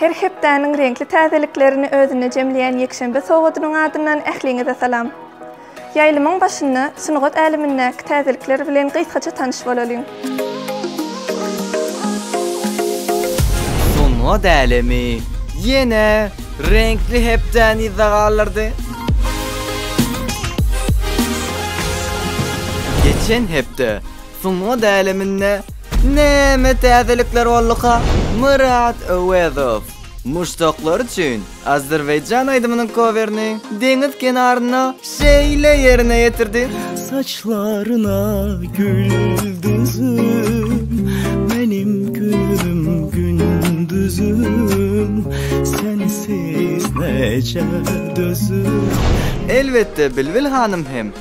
Her hepdäniň reňkli täzeliklerini özünde jemleýän ýekşenbe sowadynyň adyndan ähliňize salam! Ýaýlymyň başynda sungat älemindäki täzelikler bilen gysgaça tanyş bolalyň. Sungat älemi ýene reňkli hepdäni yzda galdyrdy. Geçen hepde Sungat äleminde näme täzelikler bolduka? Myrat Öwezow muşdaklary üçin azerbaýjan aýdymynyň kowerini deňiz kenarynda şeýle ýerine ýetirdi. Saçlaryna gül düzüm, meniň günüm gündüzüm, sensiz näçe dözüm. Elbetde Bilbil hanym hem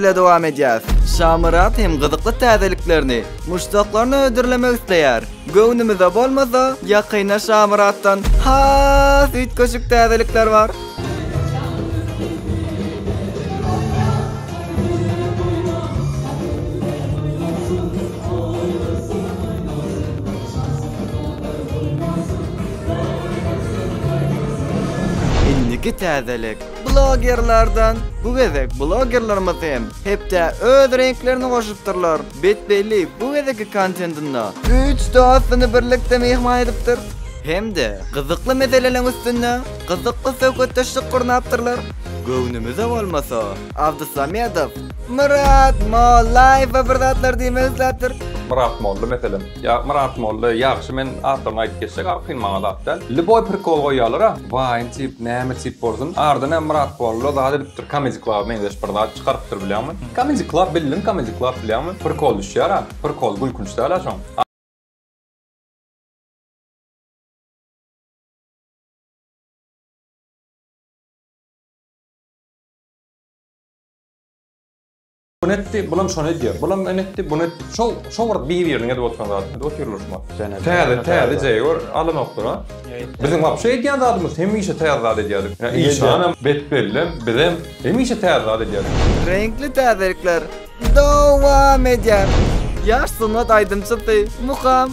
bile dowam edýär. Şamyrat hem gyzykly täzeliklerini, muşdaklaryny hödürlemek isleýär. Göwnümize bolmasa, ýakynda Şamyratdan has üýtgeşik täzelikler bar. Indiki täzelik blogerlerden. Bu gezek blogerlerimiz hem hepdä öz reňklerini goşupdyrlar. Bet Belli bu gezekki kontentinde üç dostuny birlikde myhman edipdir. Hem-de gyzykly meseleleriň üstünde gyzykly söhbetdeşlik gurnapdyrlar. Göwnümize bolmasa, Abdusamedow Myrat Mollaýewe bir zatlar diýmek isläpdir. Myrat Molla, meselem, Ýa Myrat Molla ýagşy men atlaryny aýdyp geçsek ar kyn maňa zat däl. Lýuboý prikol goýýalara waýn tip näme tip bolsun ardyna Myrat Molla zat edipdir Comedy Club meňzeş bir zat çykarypdyr bilýäňmi. Comedy Club bildim Comedy Club bilýäňmi prikol düşýärä prikol gülkünç dälä şoň. Ony etdi, bulam şony edýär. Bulam ony etdi, buny etdi. Şol şol bir bir-biriniň edip oturan zady. Edip otyrlar şuňa. Täze, täze jeý gör, alanokdyr-a. Biziň wapşe edýän zadymyz hemişe täze zat edýärdik. Işanam, Betbellem, bizem hemişe täze zat edýärdik. Reňkli täzelikler dowam edýär. Ýaş sungat aýdymçysy Mukam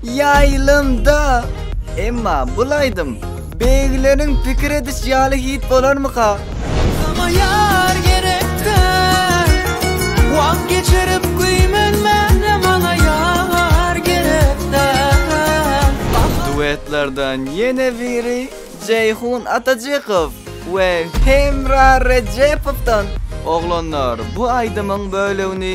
Ýaýlymda. Emma bul aýdym beýgileriň pikir ediş ýaly hit bolarmyka? Sona ýar gerekdär. Wagt geçirip güýmenmäne maňa ýar gerekdär. Duetlerden ýene biri Jeýhun Atajykow we Hemra Rejepowdan. Oglanlar bu aýdymyň bölegini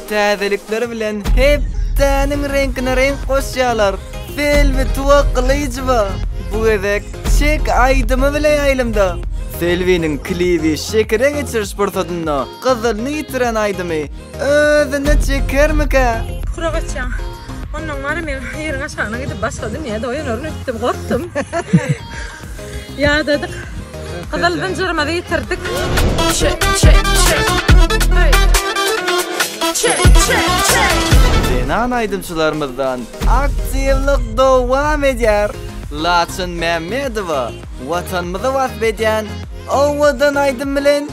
Täzelikler bilen hepdäniň reňkine reňk goşýarlar. Selbi Tuwa Gylyjowa bu gezek Çek aýdymy bilen ýaýlymda. Selbiniň klibi şekere geçiriş pursatynda gyzylyny ýitiren aýdymy özüne çekermikä? Pura gaçýaň. Ondan wara men ýeriň aşagyna gidip başga dünýäde oýanaryn öýtdüm, gorkdum. Ýadadyk. Gyzyl zynjyrymyzy ýitirdik. Zenan aýdymçylarymyzdan aktiwlik dowam edýär. Laçyn Mämmedowa Watanymyzy wasp edýän owadan aýdym bilen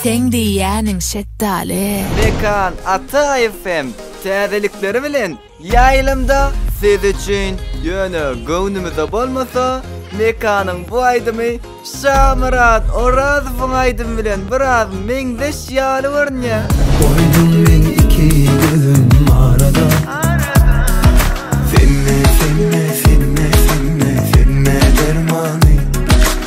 Seň diýýäniň şetdaly. Mekan Ataýew hem täzelikleri bilen ýaýlymda siz üçin. Ýöne göwnümize bolmasa, Mekanyň bu aýdymy Şamyrat Orazowyň aýdymy bilen biraz meňzeş ýaly görünýär. Goýdum men iki gözüm arada Semme, semme, semme, semme, semme dermany.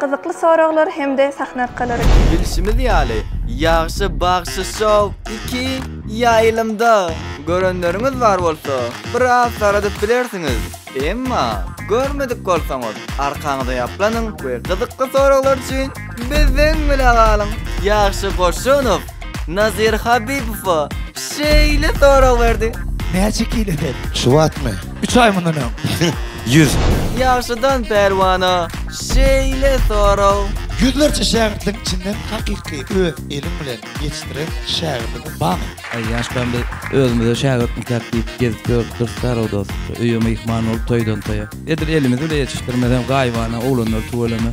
Gyzykly soraglar hem-de sahna arkalary. Bilşimiz ýaly, Ýagşy bagşy show iki ýaýlymda görenleriňiz bar bolsa, biraz saradyp bilersiňiz. Emma, görmedik bolsaňyz, arkaňyzy ýaplanyň we gyzykly soraglar üçin bizden bile galyň. Ýagşy Goşunow. Nazir Habibowa şeýle sorag berdi. Näçe kile sen? Şu wagtmy? Üç aý mundan öň. Ýüz. Ýagşydan Pälwana şeýle sorag. Ýüzlerçe şägirtligiň içinden hakyky öz eliň bilen ýetişdiren şägirdiňiz barmy? Aý ýaşlaram biz özümize şägirt ikäk diýip gezip ýörüp durus Garry dost. Öýe myhman bolup toýdan toýa. Edil elimiz bile ýetişdirmezem gaýybana oglanlar tüweleme.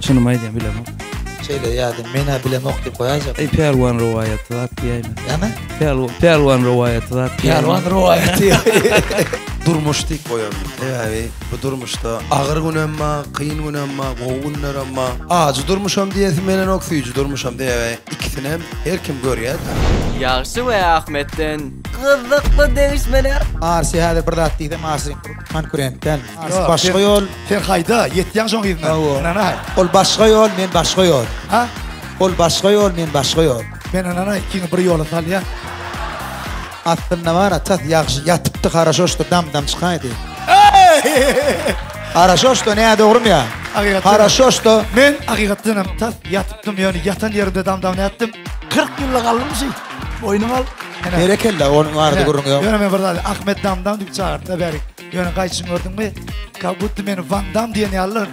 Şunumy aýdaýyn bilemok. Şeýle ýadyň menä bilemok diýip goýajak. Eý Pälwan rowaýaty zat diýäýme. Näme? Pälwan Pälwan rowaýaty zat. Pälwan rowaýaty. Durmuş diýip goýaryn. Sebäbi bu durmuşda agyr günem bar, kyn günem bar, gowy günlerem bar. Ajy durmuşam diýesim gelenok, süýji durmuşam sebäbi ikisinem her kim görýär. Ýagşy we Ahmetden gyzykly degişmeler. Arsy häzir bir zat diýsem arsy konkurent dälmi? Artyk başga ýol. Sen haýda, ýetýäň şoň yzyna. Ynanaý. Ol başga ýol, men başga ýol. Ha? Ol başga ýol, men başga ýol. Men ynanaý, ikiňi bir ýola salýan. Aslynda bar, atas ýagşy ýatypdy, haraşoşdy, dam-dam çykaýdy. Haraşoşdy, näme dogrymy ýa? Hakykat. Haraşoşdy. Men hakykat hem tas ýatypdym, ýöne ýatan ýerimde dam-dam nätdim? 40 ýylla galdym şeý. Boýnuňa al. Berekella, onuň ardy gürrüňi ýok. Ýöne men bir zat, Ahmet dam-dam diýip çagyrtda bärik. Ýöne gaýçyň gördüňmi? Ka gutdy meni Van Dam diýen ýalylar.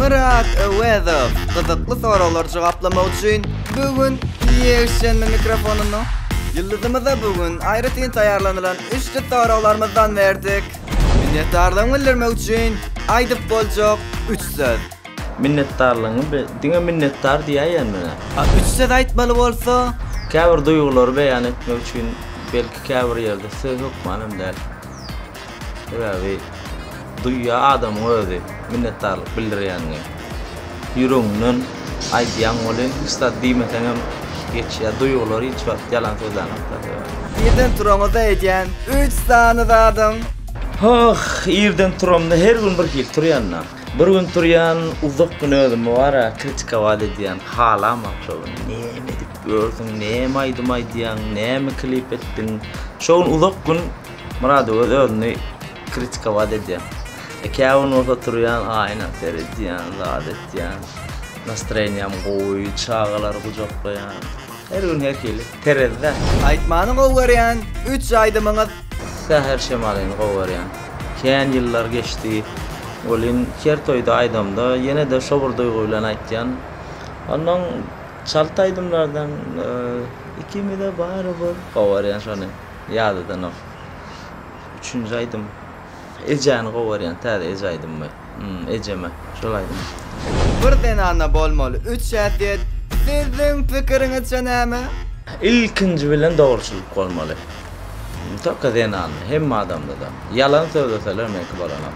Myrat Öwezow gyzykly soraglary jogaplamak üçin bu gün ýeşenbe mikrofonyny ýyldyzymyza bu gün aýratyn taýýarlanylan üçte soraglarymyzdan berdik. Minnetdarlygymy bildirmek üçin aýdyp boljak üç söz. Minnetdarlygyňy bi, diňe minnetdar diýäýen menä. A üç söz aýtmaly bolsa? Käbir duýgulary beýan etmek üçin belki käbir ýerde söz hökman hem däl. Sebäbi duýýar adamyň özi minnetdarlyk bildirýänini. Ýüregiňden aýdýaň welin hiç zat diýmeseňem geçýär. Duýgular hiç wagt ýalan sözlänokda sebäbi. Irden turaňyzda edýän üç sany zadyň? Hoh, irden turamda her gün bir hili turýan-da. Bir gün turýan, uzak gün özümi bar-a kritikować edýän, halamok şo gün näme edip ýörsüň, näme aýdym aýdýaň, näme klip etdiň. Şo gün uzak gün. Murady öz özüni kritikowat edýän. E käwin bolsa turýan aýna seredýän, zat etýän. Nastreniýam gowy, çagalary gujaklaýan. Her gün her hili. Terezde. Aýtmany gowy görýän üç aýdymyňyz. Säher şemalyny gowy görýän. Kän ýyllar geçdi. Welin her toýda aýdamda ýene-de şo bir duýgy bilen aýtýan. Onnoň çalt aýdymlardan Ikimize barybir gowy görýän şony. Ýadadanok. Üçünji aýdym Ejäni gowarýan täze eje aýdymmy? Hum ejeme şol aýdym. Bir zenana bolmaly üç häsiýet siziň pikiriňizçe näme? Ilkinji bilen dogruçylyk bolmaly. Nitoka zenanda, hemme adamdada. Ýalan sözleseler meňki bolanok.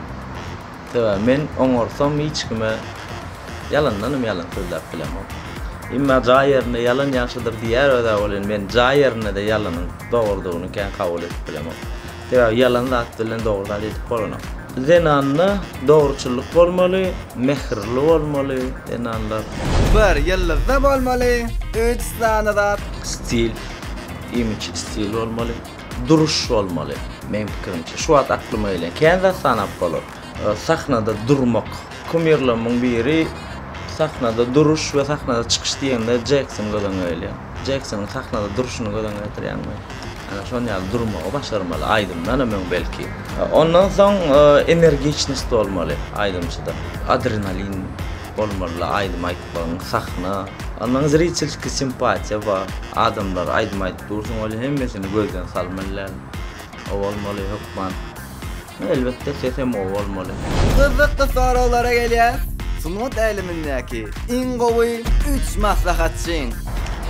Sebäbi men oňarsam hiç kime ýalandanam ýalan sözläp bilemok. Emma jaý ýerinde ýalan ýagşydyr diýýär öz-ä welin men jaý ýerinde-de ýalanyň dogrudygyny kän kabul edip bilemok. Sebäbi ýalan zat bilen dogry zat edip bolanok. Zenanda dogruçyllyk bolmaly, mähirli bolmaly zenanlar. Bir ýyldyzda bolmaly, üç sany zat. Stil, imidj, stil bolmaly. duruş bolmaly. Meň pikirimçe, şu wagt aklyma gelen kän zat sanap bolar. Sahnada durmak. Kumirlerimiň biri sahnada duruş we sahnada çykyş diýende Jekson göz öňüne gelýär. Jeksonyň sahnada duruşyny göz öňüne getirýäňmi? Ýa-da şonuň ýaly durmagy başarmaly, aýdymdan hem öň belki. Ondan soň energiçnost bolmaly aýdymçyda. Adrenalin bolmaly aýdym aýtmagyň, sahna. Ondan zritelskiý simpatiýa bar. Adamlar aýdym aýdyp Dursun Weli hemmesini gözden salmylyan. O bolmaly hökman. Elbetde sesem o bolmaly. Gyzykly soraglara gelýäs. Sungat älemindäki iň gowy üç maslahatçyň?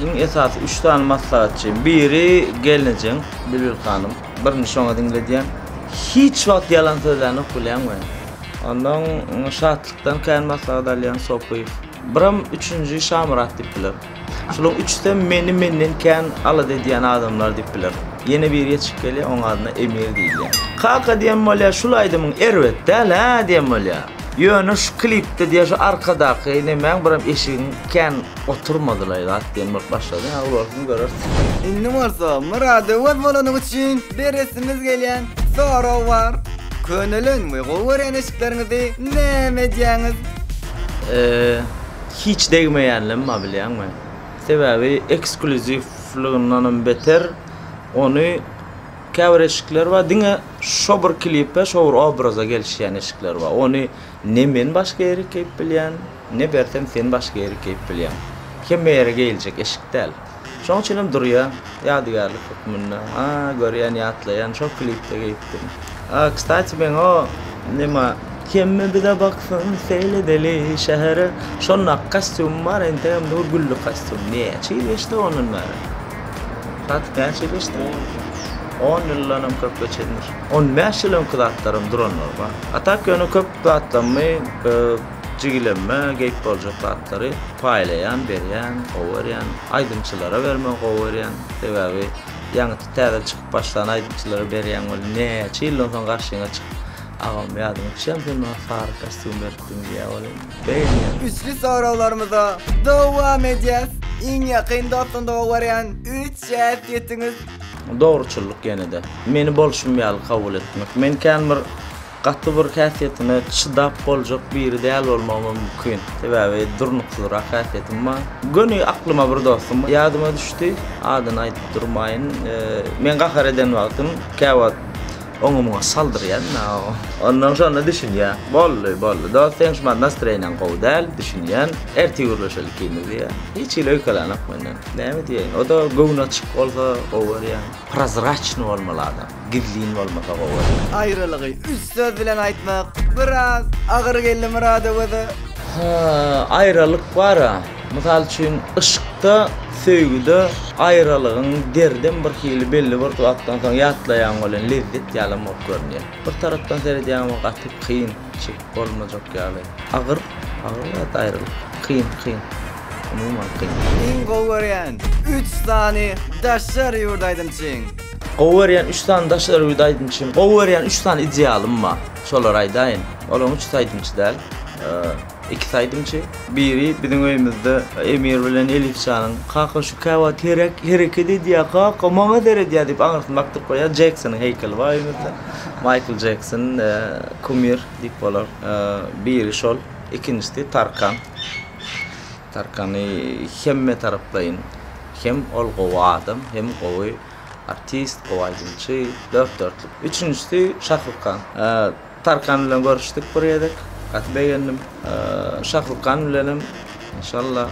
Iň esasy üç sany maslahatçym. Biri gelnejeň Bilbil hanym. Birini şoňa diňledýän. Hiç wagt ýalan sözlänok bilýäňmi men. Ondan Şatlykdan kän maslahat alýan Sopyýew. Biram üçünji Şamyrat diýip bilerin. Şulaň üçüsem meni menden kän alada edýän adamlar diýip biler. Ýene biri ýetişip gelýär, oň adyna Emir diýilýär. Kaka diýen bolýar, şul aýdymyň erbet däl hä diýen bolýar. Ýöne şu klipde diýýär şu arkadaky nemäň biram eşigiň kän oturmadylaý zat diýen bolup başlady. Agyl bolsun görersiň. Indi bolsa muradyňyz bolany üçin beresimiz gelýän sorag bar. Könelen we gowy görýän eşikleriňizi näme edýäňiz? Eee. Hiç degmeýänlem bar bilýäňmi? Sebäbi eksklýuziwligyndanam beter ony käbir eşikler bar diňe şo bir klipe şo bir obraza gelişýän eşikler bar ony ne men başga ýere keýip bilýän ne bersem sen başga ýere keýip bilýäň hemme ýere geýiljek eşik däl. Şoň üçinem durýa, ýadygärlik hökmünde. A, görýän, ýatlaýan, şol klipde geýipdim. A, kstati, meň o, nima, Kemmi bize baksyn, seýledeli şähere, şondaky kostýumym bar, entegem dur gülli kostýum. Näçe ýyl geçdi ondan bäri? Kstatik, näçe ýyl geçdi? On ýyl. On ýyldanam köpgä çendir. On bäş ýyl öňki zatlaram duranlar bar. A tak ýöne köp zatlarymy, Jigilemme geýip boljak zatlary paýlaýan, berýän, gowy görýän. Aýdymçylara bermegi gowy görýän. Sebäbi ýaňy täze çykyp başlan aýdymçylara berýän boldy. Näçe ýyldan soň garşyňa çykyp, Agam ýadyma düşýämi sen maňa sary kostýum beripdiň diýýän bolýan. Begenýän. Güçli soraglarymyza dowam edýäs. Iň ýakyn dostum gowy görýän üç zat ýetiňiz. Dogruçyllyk ýene-de. Meni bolşum ýaly kabul etmek. Men kän bir Gaty bir häsiýetine çydap boljak biri däl bolmagym mümkin. Sebäbi durnuksyzrak häsiýetim bar. Göni aklyma bir dostum ýadyma düşdi. Adyny aýdyp durmaýyn. Men gahar eden wagtym käwagt oňa-muňa saldyrýan-da. Ondan şonda düşünýär. Boldy, boldy. Dost sen şu wagt nastroýeniň gowy däl, düşünýän. Ertir gürleşeli ikimiz diýýär. Hiç hili öýkelänok menden. Näme diýeýin. O-da göwni açyk bolsa gowy görýän. Prozraçnyý bolmaly adam. gizlin bolmasa gowy. Aýralygy üç söz bilen aýtmak biraz agyr geldi Myradowaza. Ha, aýralyk bar-a. Mysal üçin, yşkda, söýgüde aýralygyň derdem bir hili belli bir wagtdan soň ýatlaýaň welin lezzet ýalam bolup görünýär. Bir tarapdan seredýäňem gaty kyn, çep. bolmajak ýaly. Agyr, agyr zat aýrylyk. Kyn, kyn. Umuman kyn. Iň gowy görýän üç sany daşary ýurt aýdymçyň? Gowy görýän üç sany daşary ýurt aýdymçym, gowy görýän üç sany idealym bar. Şolary aýdaýyn. Olaryň üçüsi aýdymçy däl. Ikisi aýdymçy. Biri biziň öýümizde Emir bilen Elif janyň, Kaka şu käwagt hereket edýär kaka, maňa seredýär diýip aňyrsyny bakdyryp goýýar. Jeksonyň heýkeli bar öýümizde. Maýkl Jekson kumir diýip bolar. Biri şol, ikinjisi Tarkan. Tarkany hemme taraplaýyn hem ol gowy adam, hem gowy artist, gowy aýdymçy, dört-dörtlük. Üçünjisi Şahrukhan. Tarkan bilen görüşdik bir gezek, gaty begendim. Şahrukhan bilenem. Enşalla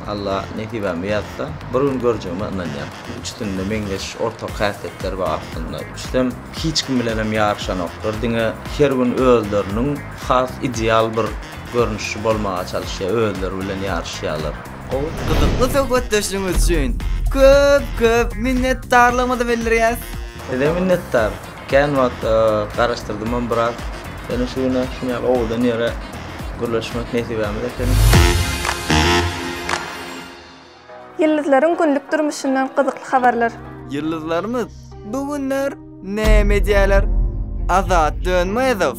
Alla nesibämi ýazsa bir gün görjegime ynanýan. Üçüsinde meňzeş ortak häsiýetler bar aslynda. Üçüsem hiç kim bilenem ýaryşanoklar. Diňe her gün özleriniň has ideal bir görnüşi bolmaga çalyşýar, özleri bilen ýaryşýarlar. Gowy, gyzykly söhbetdeşligiňiz üçin köp köp minnetdarlygymyzy bildirýäs. Size minnetdar. Kän wagt garaşdyrdymam biraz. Ýöne şu güne şuny ýaly owadan ýere gürleşmek nesibämiz ekeni. Ýyldyzlaryň günlük durmuşyndan gyzykly habarlar. Ýyldyzlarymyz bu günler näme edýärler? Azat Dönmezow.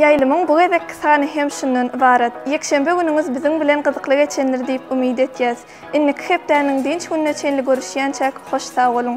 Ýaýlymyň bu gezekki sany hem şundan ybarat. Ýekşenbe günüňiz biziň bilen gyzykly geçendir diýip umyt etýäs. Indiki hepdäniň dynç gününe çenli görüşýänçäk hoş sag boluň.